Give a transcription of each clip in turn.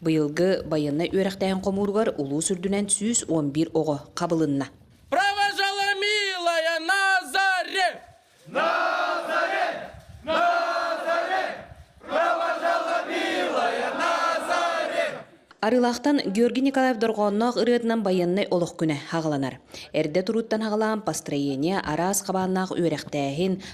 Быйылгы байыаннай үөрэхтээһин хомууругар улуус үрдүнэн сүүс уон биир оҕо хабылынна. Провожала милая Назаре! Назаре! Назаре! Провожала милая Назаре! Арыылаахтан Георгий Николаев дорҕоонноох ырыатынан байыаннай олох күнэ хаҕыланар. Эрдэ турууттан хаҕылаан построение араас хабааннаах үөрэхтээһин,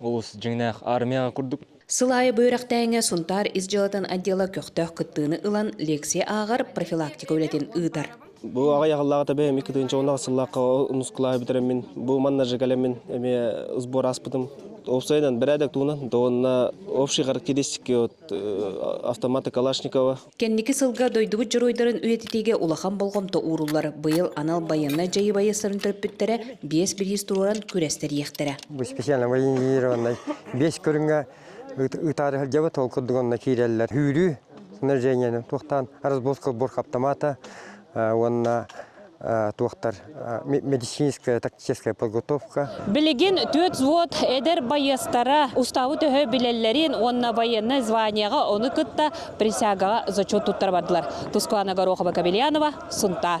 Олус дьиҥнээх армияҕа курдук. Сыл аайы бу үөрэхтээҥҥэ Сунтаар ис дьыалатын отдела көхтөөх кыттыыны ылан, лекция ааҕар, профилактика үлэтин ыытар. Бу аҕай аһыллаҕыта эбээм икки тыһыынча уоннаах сыллаахха нускулааһы бүтэрэммин, бу манна жигалэммин эмиэ сбор ааспытым. Уопсайынан, бэрээдэк туһунан да уонна общие характеристики вот автоматы Калашникова Кэнники сылга дойдубут дьоруойдарын үйэтитиигэ улахан болҕомто ууруллар быйыл анал байыаннай дьайыыбайы сырын төрөппүттэрэ биэс бириис туруоран күрэстэриэхтэрэ. Бу специальнай инженерованнай биэс көрүҥҥэ ытаары сылдьабыт, ол курдук онно киирэллэр. Үүрүү снаряжениенан туохтаан разбор-сбор хаптамаата, уонна туохтар медицинская тактическая подготовка. Билигин түөрт взвод эдэр байыастара уставы төһө билэллэрин уонна военнай званиеҕа ону кытта присягаҕа зачет туттара бардылар. Тускуана Горохова-Кобельянова, Сунтаар.